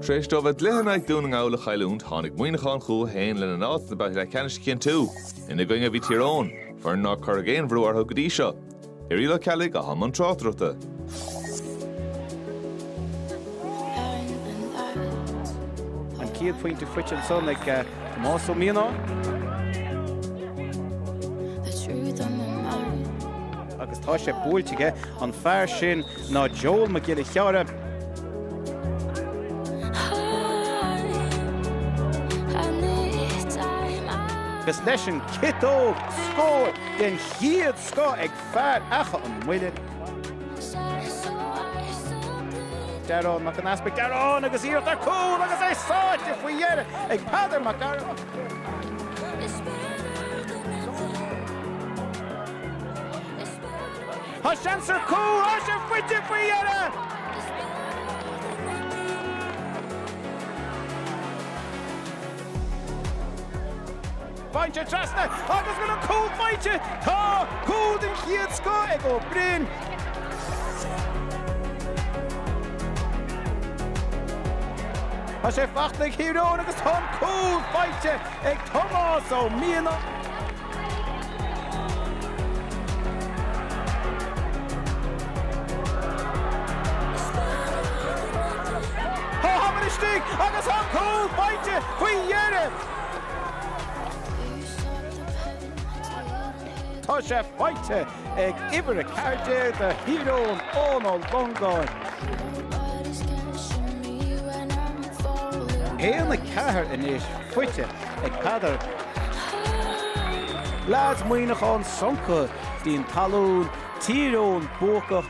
Tar éis dóibh a gcluiche in aghaidh Dún na nGall a chailliúint, tháinig Muineachán chucu féin lena n-áit sna babhtaí leathcheannais a chinntiú. Ina gcoinne a bhí Tír Eoghain, foireann nár cuireadh aon bhrú orthu go dtí seo. Irial Ó Ceallaigh a bhí i mbun tráchtaireachta. An chéad phointe faighte ansan ag eh, Tomás Ó Mianáin. Agus tá sé buailte aige an fear sin ná Joel Mac Giolla Chearra. Agus leis an ciotóg, scór den chéad scoth ag fear Achadh an Mhuilinn, Dearán Mac an Easpaig, Dearán agus iarracht ar chúl agus é sáite faoi dheireadh ag Peadar Mac Gearailt. Tá seans ar chúl áit an phointe faoi dheireadh. Buailte trasna agus bhfuil an cúl faighte! Tá cúl den chéad scoth ag Ó Broin. Tá sé faighte ag Tír Eoghain agus tá an cúl faighte ag Tomás Ó Mianáin. Tá Hammer istigh agus tá an cúl faighte faoi dheireadh! Tá sé faighte! ag uimhir 14 de Thír Eoghain, Eoin Ó Longáin. Haon a ceathair anois faighte ag Peadar. Leads Muineachán soncaithe díon talún, Tír Eoghain buacach.